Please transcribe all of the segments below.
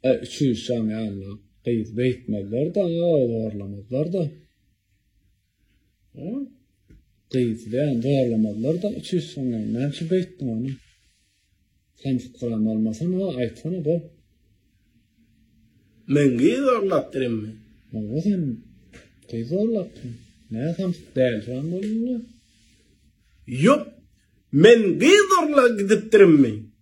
E, üçüýz şam ýaly gyz beýtmezler-de, zorlamazlar-da. E, gyz bilen zorlamazlar-da, üçüýz şam ýaly. Näme üçin beýtdiň ony? Sen fikirem bolmasana, aýtsana bu. Men gyz zorlapdyrmy? Oňa sen gyz zorlapdyň. Näme sen däl şam bolýaň? Ýok, men gyz zorla gidipdirmi?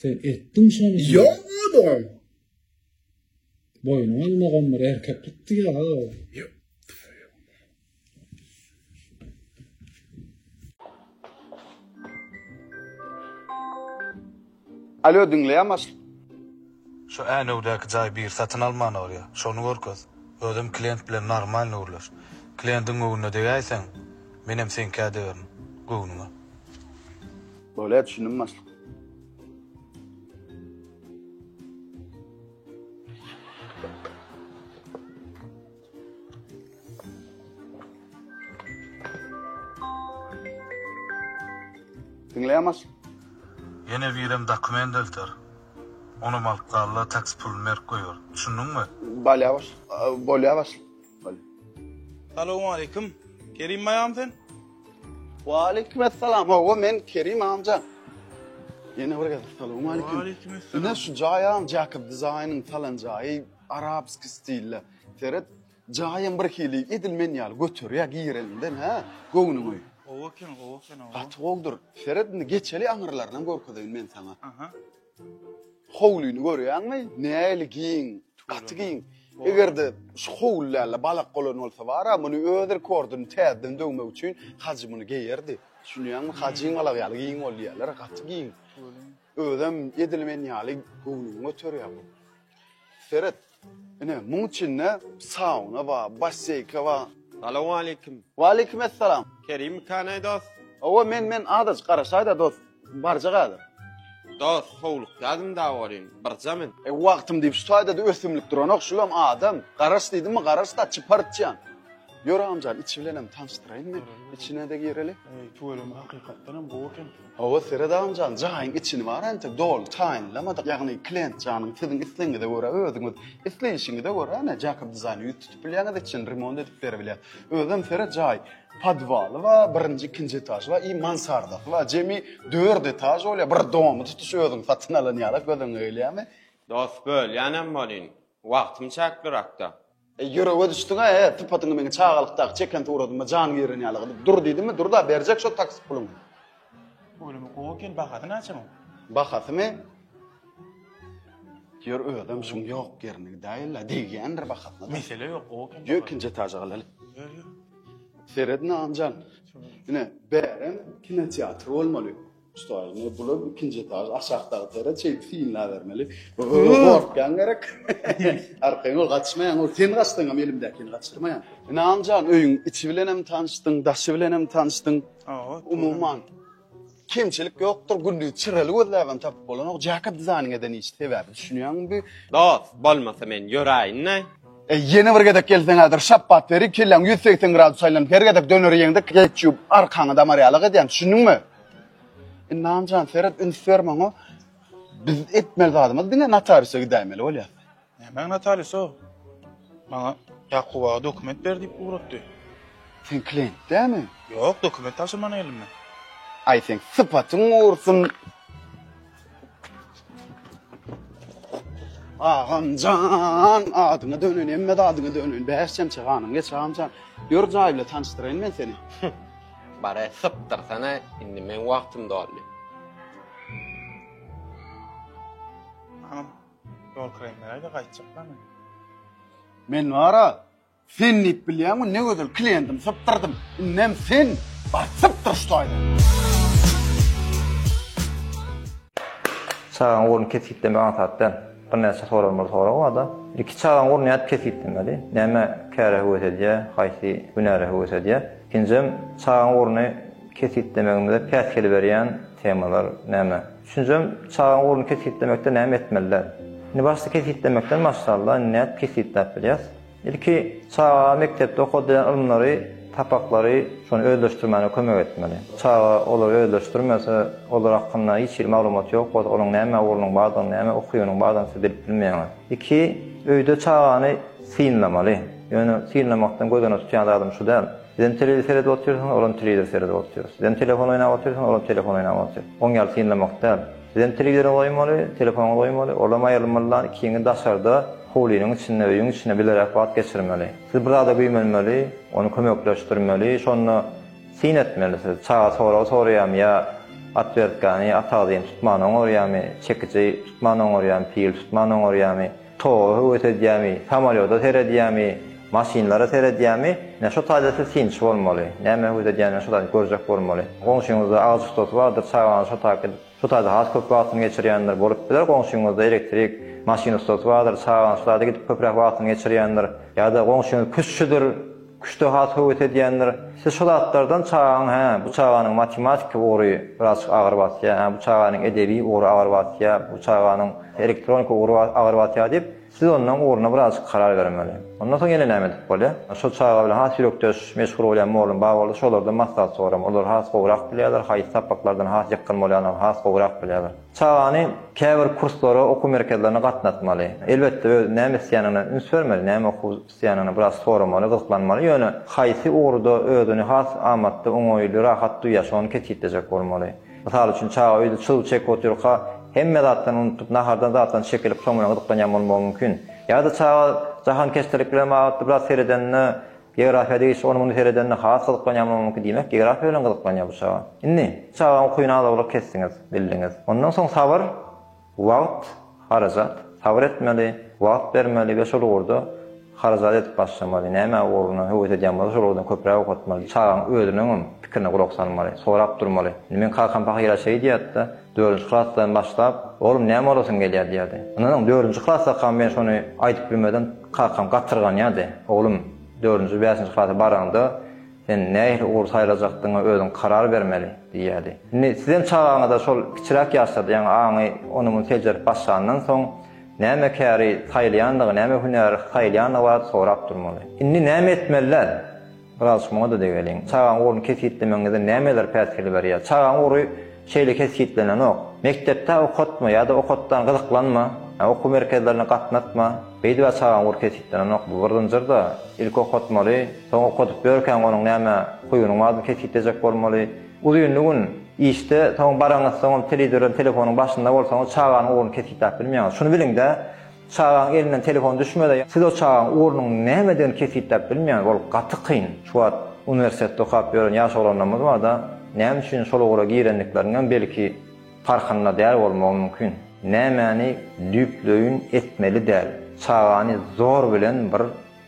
Sen etdiň şony. Ýok bolduň. Boýnuň almagam bir erkeklik diýýär ha. Ýok. Alo, diňleýäm aşyk. Şu Änewdäki jaý biri satyn almana barýa, şony görkez. Özem klient bilen normalny gürleş. Kliendiň göwnüne degäýseň, menem seňkä degerin. Göwnüňe. Bolýa düşündim başlyk. Diňleýän baş. Ýene birem dokument delter. Onam alyp galla taksi pulun berip goýar. Düşündiňmi? Balýa baş. Bolýa baş. Salowmaleýkim. Kerim baýam sen? Waleýkim essalam. Hawa men Kerim amja. Ýene bir gezek salowmaleýkim. Waleýkim essalam. Ine şu jaýam Jakob Design-yň salan jaýy. Arabski stilde. Seret, jaýam bir hili, edil men ýaly göterýär gireninden, hä, göwnüňi. Gowy eken, gowy eken, owo. Gaty gowudyr. Seret indi geçeli aňyrlarynam görkezeýin men saňa. Aha. Howlyny görýäňmi? Nähili giň, gaty giň. Eger-de şu howly däl-de balak golan bolsa bar-a, muny öz rekordyny täzeden döwmek üçin Hajy muny geýerdi. Düşünýäňmi? Hajyň balak ýaly giň bol diýýärler, gaty giň. Görýän. Özem edil men ýaly göwnüňi göterýär bu. Seret, ine, muň içinde sauna ba, basseýka ba. Salowmaleýkim. Waleýkim essalam. Kerim Kanaý dost? Hawa, men, men, adajyk garaşaýda dost, barjak häzir. Dost, howlukýadym da welin, birja men. E, wagtym diýip şu taýda-da ösümlik duranok, şulam adam. Garaş diýdimmi, garaş-da, çypartjan. Ýör agamjan içi bilenem tanşdyraýyn men. Içine-de gireli. Eý, tüweleme hakykatdanam gowy eken. Hawa, seret agamjan, jaýyň içini bar entek doly taýynlamadyk. Ýagny klient janyň siziň islegiňize görä özüňiz isleýşiňize görä ene Jakob Dizaýna ýüz tutup bilýäňiz içini remont edip beribilýär. Özem seret jaý podwaly bar, birinji, ikinji etažy bar i mansardasy bar. Jemi dört etaž bolýar. Bir domy tutuş özüň satyn alan ýaly göz öňüňe gelýärmi? Dos bölýänem bolýyn. Wagtym çäklirakda. E, ýürege düşdüň-ä, e, sypatyňy meniň çagalykdaky çeken suratyma jan giren ýaly gylyp dur diýdimmi, dur-da, berjek şo taksi puluny. Ölümi gowy eken, bahasy naçe muň? Bahasymy? Ýör, özem şuň ýok ýerini gidäýeli-le, degýändir bahasyna-da. Mesele ýok, gowy eken. Ýör, ikinji etaja galaly. Ýör, ýör. Seredin, Agamjan. Ine, bärem kinoteatr bolmaly. Stoý, ne bular ikinji etaž aşakdaky tere çeýip synla bermeli. Gorkýan gerek. Arkaýyn ol gaçmaýan, ol sen gaçdyň hem elimdäkini gaçyrmaýan. Ynamjan, öýüň içi bilen hem tanyşdyň, daşy bilen hem tanyşdyň. Umuman, kemçilik ýokdur, gündiz çyrely gözläp hem tapyp bolanok, jacket dizaýnyň eden işi sebäbi düşünýäňmi bi? Dost, bolmasa men ýöräýin-de. Eý, ýene bir gezek gelseň häzir şapbat berin, kelläň ýüz segsen gradus aýlanyp, her gezek döner iýeňde ketçup arkaňy damarýalak edýän, düşündiňmi? Ynamjan seret üns ber maňa. Biz etmeli zadymyz diňe notariusa gidäýmeli bolýar. Nämäň notariusa? Maňa Ýakuba dokument ber diýip ugratdy. Sen klient dämi? Ýok, dokument tabşyrmana geldim men. Aý seň sypatyň gursun. Agamjan, adyňa dönen, emme adyňa dönen. Bäş çemçe ganym geç agamjan. Ýör jaý bilen tanyşdyraýyn men seni. Bare sypdyrsana, indi meň wagtym doldy. Agam, ýol kiraýmy beräýde gaýtjaklar men. Men bara Sen diýip bilýäňmi ne gözel klientim sypdyrdym indem sen bar sypdyr şu toýda. Çagaň ugruny kesgitlemek aňsat däl. Birnäçe soralmaly sorag barda. Ilki çagaň ugruny nädip kesgitlemeli? Näme käre höwes edýär, haýsy hünäre höwes edýär? Ikinjim, çagaň ugruny kesgitlemegimize päsgel berýän temalar näme? Üçünjim, çagaň ugruny kesgitlemekde näme etmeli däl? Indi başda kesgitlemekden başlaly-da, indi nädip kesgitläp bilýäs? Ilki çagaga mekdepde okadylýan ylymlary, sapaklary, şony özleşdirmäne kömek etmeli. Çaga olary özleşdirmese, olar hakynda hiç hili maglumat ýok bolsa, onuň näme ugrunyň bardygyny, näme ukybynyň bardygyny siz bilip bilmeýäňiz. Iki, öýde çagany synlamaly. Ýöne synlamakdan göz öňünde tutýan zadym şu däl. Sizem telewizor seredip otyrsyňyz, olam telewizor seredip otyr. Sizem telefon oýnap otyrsyňyz, olam telefon oýnap otyr. Oň ýaly synlamak däl. Bizem telewizora goýmaly, telefona goýmaly, olam aýrylmaly da, ikiňi daşarda, howlynyň içinde, öýüň içinde bileräk wagt geçirmeli. Siz bir zada güýmenmeli, ony kömekleşdirmeli, şonda syn etmeli siz. Çaga sorag soraýamy ýa otwertkany, atagzyny tutman oňarýamy, çekiji tutman oňarýamy, pil tutman oňarýamy? Toga höwes edýämi, samolýota seredýämi, maşynlara seredýämi, ine şo taýda siz synçy bolmaly. Nämä höwes edýänini şo taýda görjek bolmaly. Goňşyňyzda agyz ustasy bardyr, çagaňyz şo taýda edip, şo taýda has köp wagtyny geçirýändir. Bolup biler, goňşyňyzda elektrik, maşyn ustasy bardyr, çagaňyz şo taýda gidip köpräk wagtyny geçirýändir. Ýa-da goňşyňyz küştçüdir. Küşte has höwes edýändir. Siz şu zatlardan çagaňy hä, bu çaganyň matematiki ugry birazjyk agyr basýar, hä, bu çaganyň edebi ugry agyr basýar, bu çaganyň elektronika ugry agyr basýar diýip, siz ondan ugruna birazjyk karar bermeli. Ondan soň ýene näme edip bolýar? Şol çaga bilen has ýürekdeş, meşhur bolýan mugallym bar bolsa, şolardan maslahat soramaly. Olar has gowrak bilýärler, haýsy sapaklardan has ýykgyn bolýandygyny has gowrak bilýärler. Çagany käbir kurslara, okuw merkezlerine gatnatmaly. Elbetde, özi näme isleýändigine üns bermeli, näme okuw Syýanyny biraz soramaly, gyzyklanmaly, ýöne haýsy ugurda özüni has amatly, oňaýly, rahat duýýar, şony kesgitlejek bolmaly. Mysal üçin, çaga öýde çyg çekip otyrka, hemme zatdan unutyp, nahardan zatdan çekilip, soň bilen gyzyklanýan bolmagy mümkin. Ýa-da çaga jahankeşdelik bilen babatly biraz seredeninde, geografiýa degişli ony-muny seredeninde has gyzyklanýan bolmagy mümkin. Diýmek, geografiýa bilen gyzyklanýar bu çaga. Indi, çagaň ukyny az-owlak kesdiňiz, bildiňiz. Ondan soň sabyr. Wagt, harajat. Sabyr etmeli, wagt bermeli we şol ugurda harajat edip başlamaly. Näme ugruna höwes edýän bolsa şol ugurdan köpräk okatmaly. Çagaň özüniňem pikirine gulak salmaly, sorap durmaly. Indi meň kakam pahyra şeý diýýärdi-de, dördünji klasdan başlap, Oglum näme bolasyň gelýär diýýärdi. Ynanyň, dördünji klasdakam men şony aýdyp bilmedim, kakam gatyrganýardy. Oglum, dördünji, bäşinji klasa baraňda, Sen nähili ugur saýlajakdygyňa özüň karar bermeli, diýýärdi. Indi sizem çagaňyza şol kiçiräk ýaşlarda, ýaňy aňy ony-muny seljerip başlandan soň, näme käri saýlaýandygy, näme hünäri saýlaýandygy barada sorap durmaly. Indi näme etmeliler? Biraz muňa-da degeliň. Çagaň ugruny kesgitlemegiňizde nämeler päsgel berýär? Çagaň ugry. Şeýle kesgitlenenok. Mekdepde okatma ýa-da okatdan gyzyklanma, okuw merkezlerine gatnatma, beýdibä çagaň ugur kesgitlenenok. Bu bir zynjyrda, ilki okatmaly, soň okadyp ýörkäň onuň näme huýunyň bardygyny kesgitlejek bolmaly. Uzynly gün işde, soň baraňyzsoňam telewizordan telefonyň başynda bolsaňyz çaganyň ugruny kesgitläp bilmeýäňiz. Şuny biliňdä! Çagaň elinden telefon düşmedi. Siz o çagaň ugrunyň nämedigini kesgitläp bilmeýäňiz. Ol gaty kyn. Şu wagt uniwersitetde okap ýören ýaş oglanlarymyz barda, näme üçin şol ugra girendikleriniňem belki parhynda däl bolmagy mümkin. Nämäni düýpleýin etmeli däl. Çagany zor bilen bir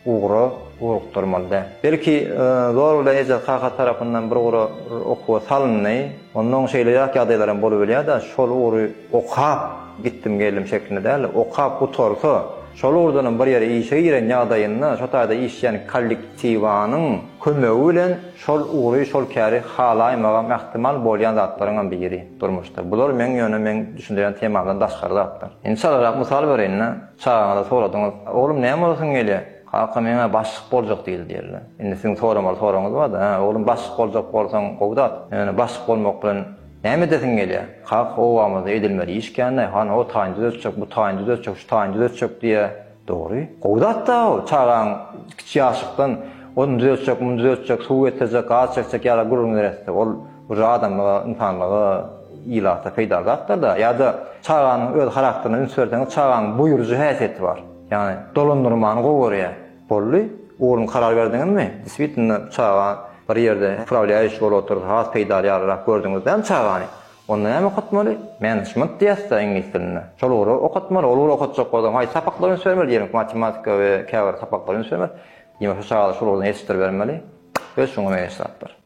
ugra ugrukdyrmaly däl. Belki, zorluda eje-kaka tarapyndan bir ugra okuwa salyndy. Onda oň şeýle ýat ýagdaýlaram bolubilýär-de, şol ugry okap gitdim geldim şeklinde däl-de, okap gutarsa, şol ugurdanam bir ýere işe giren ýagdaýynda, şo taýda işleýän kollektiwanyň kömegi bilen şol ugry, şol käri halaýmagam ähtimal bolýan zatlaryňam biri durmuşda. Bular meň ýöne meň düşündirýän temamdan daşgary zatlar. Indi çalarak mysal bereýin-de. Çagaňyza soradyňyz, Oglum, näme bolasyň gelýär? Kaka, meň-ä başlyk boljak diýdi diýerler. Indi siziň soramaly soragyňyz bar-da, Hä, oglum, başlyk boljak bolsaň, gowy zat. Ýöne başlyk bolmak bilen näme edesiň gelýär? Kak, obamyzda edilmeli iş kän-dä. Hany, o taýyny düzeltjek, bu taýyny düzeltjek, şu taýyny düzeltjek diýýär. Dogry. Gowy zat-da ol. Çagaň kiçi ýaşlykdan ony düzeltjek, muny düzeltjek, suw getirjek, gaz çekjek ýaly gürrüň neresse? Ol. Bu zat adamlara, ynsanlara, ilata peýdaly zatlar-da. Ýa-da çaganyň öz harakterine üns berseňiz, çagaň buýrujy häsiýeti bar. Ýagny dolandyrmany gowy görýär. Boldy, ugruny karar berdiňizmi? Deswitnda çaga bir ýerde uprawlýaýuş bolup otursa has peýdaly ýalyrak gördüňiz däl çagany? Onda näme okatmaly? Management diýýäs-dä iňlis dilinde. Şol ugry okatmaly. Ol ugry okatjak bolsaň haýsy sapaklara üns bermeli? Diýmek matematika we käbir sapaklara üns bermeli. Diýmek şu çagada şol ugurdan ýetişdirbermeli. Öz şuňa meňzeş zatlar.